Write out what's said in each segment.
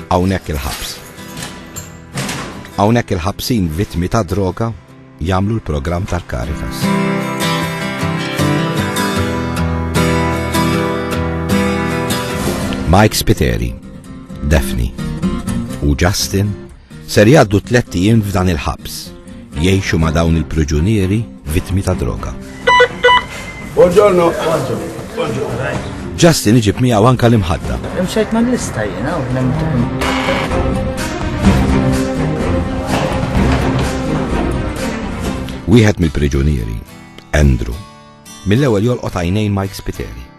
Hawnhekk il-ħabs. Hawnhekk il-ħabsin vittmi ta' droga jagħmlu l-programm tal-Caritas. Mike Spiteri, Daphne u Justin Ser jgħaddu tlett ijiem f'dan il-ħabs. Jgħixu ma' dawn il-priġunieri vittmi ta' droga. Buongiorno. Justin iġib miegħu anka l-imħadda. Imxejt ma' lista jiena u Wieħed mill-priġunieri, Andrew, mill-ewwel jolqot għajnejn Mike Spiteri.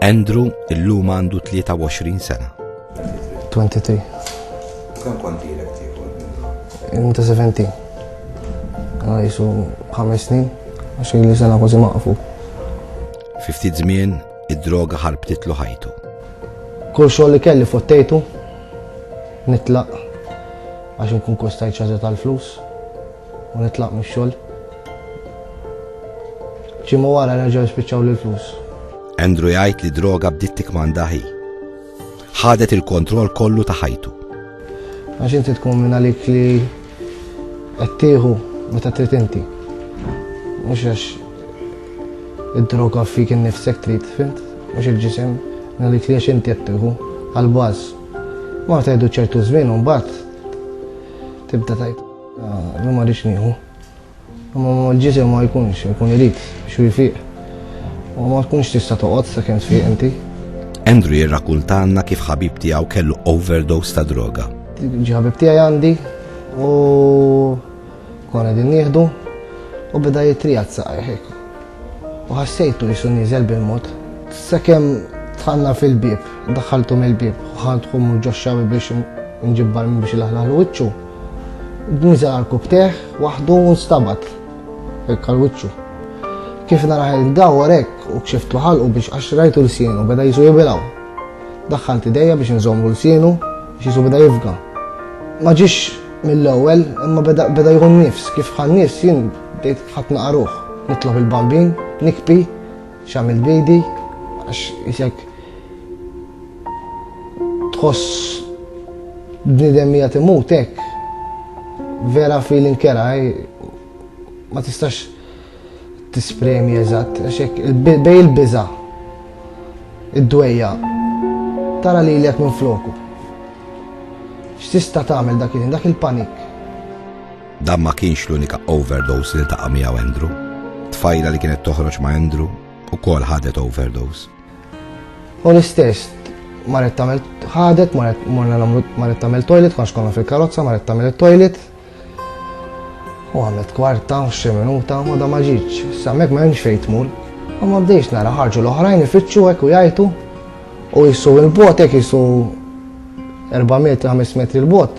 Andrew illum għandu 23 sena. 23. Kemm kont ilek tieku? Inta 17. Għana jisu 5 snin, għax li sena kważi maqfu. Fi ftit żmien id-droga ħarbtitlu ħajtu. Kull xogħol li kelli fottejtu, nitlaq għax nkun kostajt ċażet tal-flus u nitlaq mix-xogħol. Ġimgħa wara reġgħu jispiċċawli l-flus. Andrew jgħid li d-droga bdiet tikkmanda hi. Ħadet il-kontroll kollu ta' ħajtu. Għax inti tkun minn għalik li qed tieħu meta trid inti. Mhux għax id-droga fik innifsek trid, fint? Mhux il-ġisem, għalik li għax inti qed tieħu għal-baż. Ma tgħidu ċertu żmien u mbagħad tibda tajt. Ah, ma rridx nieħu. Imma l-ġisem ma jkunx, jkun irid biex jfiq. U ma tkunx tista' toqgħod sakemm tfiq inti. Andrew jirrakuntalna kif ħabib tiegħu kellu overdose ta' droga. Ġi ħabib tiegħi għandi u konna din nieħdu u beda jitrija t-saqajh hekk. U ħassejtu jisu nieżel bil-mod. Sakemm tħanna fil-bieb, daħħaltu mill-bieb, ħadħu mhux ġoxxawi biex nġibbar biex ilaħlaħlu wiċċu. Nisa għal kubteh waħdu u nstabat hekk għal wiċċu. Kif naraħ il-dawar hekk u kxiftu ħalqu biex għax rajtu l-sienu beda jisu jibilaw. Daħħalt idejja biex nżommu l-sienu biex jisu beda jifga. Ma ġiex mill-ewwel imma beda jħun nifs kif ħan nifs jien bdejt ħadd naqaruh nitlob il-bambin nikpi X'għamilt b'idi għax isek tħoss bniedem hija timut hekk. Vera feeling kera eh, ma tistax tispremi eżatt għax hekk bej il-biża' id-dwejja tara li l minn floku. X'tista' tagħmel dak il-panik? Dan ma kienx l-unika overdose li ltaqa' miegħu Andrew. Tfajla li kienet toħroġ ma' Andrew ukoll ħadet overdose. U l-istess, marret tagħmel ħadet, marret morna nagħmlu marret tagħmel toilet, konx konna fil-karozza, marret tagħmel it-toilet. U għamlet kwarta, xi minuta, ma da ma ġietx. Sammek ma hemmx fejn tmur. U ma bdejx nara ħarġu l-oħrajn ifittxu hekk u jajtu. U jissu il-bot hekk jissu 4 metri, 5 metri l-bot.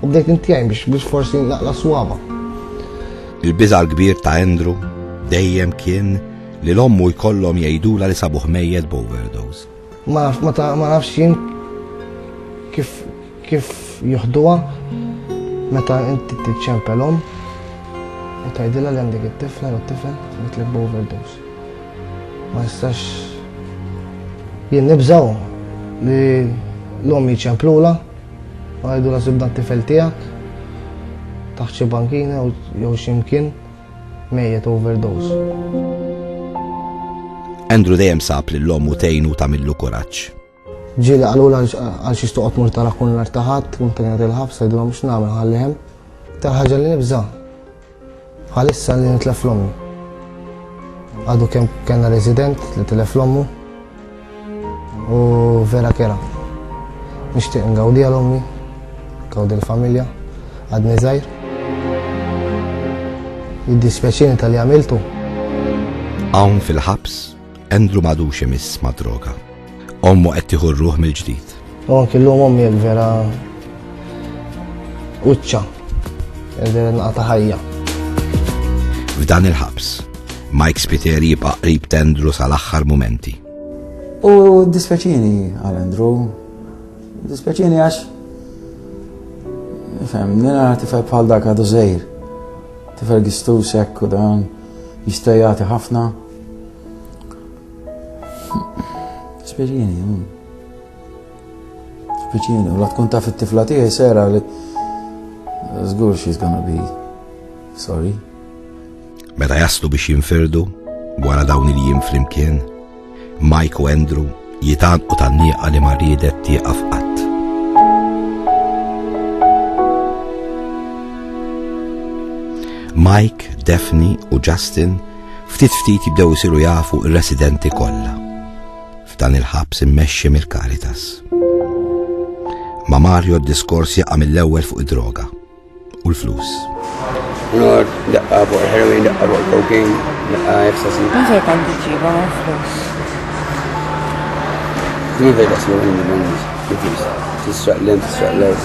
U bdejt inti għajn biex biex forsi naqla swaba. Il-biża l-kbir ta' Andrew dejjem kien li l-ommu jkollhom jgħidula li sabuh mejjet b'overdose. Ma nafx ma ta' ma nafx jien kif kif juħduha meta inti tiċċempelhom u tgħidilha li għandek it-tifla jew t-tifel bitlek b'overdose. Ma nistax jien nibżgħu li l-ommi ċemplula Għidu la sibna t-tifel tiegħek taħt xi bankina jew xi mkien mejjet overdose. Andrew dejjem sab lil ommu tgħinu tagħmillu kuraġġ. Ġieli qalu għal xi toqgħod mur tara kun l-artaħat, kun kien qed il-ħabs, għidulhom x'nagħmel ħallihem. Tal-ħaġa li nibża' Bħalissa li nitlef l-ommi. Għadu kem kena resident li tilef l-ommu u vera kera. Nishtiq ngawdi għal-ommi, ngawdi l-familja, għadni zaħir. Jiddi speċini tal-li għamiltu. Għawn fil-ħabs Andrew m'għadux imiss mad-droga. Ommu qed tieħu r-ruħ mill-ġdid. U anki llum ommi hekk vera uċċa, vera nqata' ħajja. F'dan il-ħabs, Mike Spiteri jibqa' qrib tendru sal-aħħar mumenti. U dispjaċini għal Andrew, dispjaċini għax Fem, nina tifel bħal dak għadu zejr. Tifel gistus ekku dan, jistajati ħafna. Speċjeni, mm. speċjeni, u la tkun taf it-tifla tiegħi sera li żgur she's gonna be sorry. Meta jaslu biex jinfirdu wara dawn il-jiem flimkien, Mike u Andrew jitanqu tan-nieqa li ma riedet tieqaf qatt. Mike, Daphne u Justin Ftit ftit jibdew isiru jafu r-residenti kollha f'dan il-ħabs immexxi mill-Caritas. Ma' Mario d-diskors jaqa' mill-ewwel fuq id-droga u l-flus. Nor, daqqa fuq il-heroin, daqqa fuq il-cocaine, daqqa ecstasy. Nġej kan tiġiba ma' flus. Jiver da slu għin il-mannis, jifis, tisraq l-em, tisraq l-art.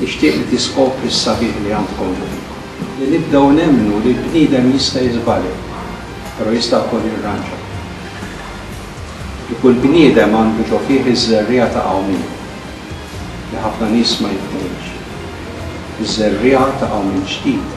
Nixtieq li tiskopri s-sabiħ li għandkom fikom, li nibdew nemmnu li l-bniedem jista' jiżbalja, però jista' wkoll jirranġa. Li kull bniedem għandu ġo fih iż-żerriegħa ta' qawmien, li ħafna nies ma jifhmuhiex. Iż-żerriegħa ta' qawmien ġdid.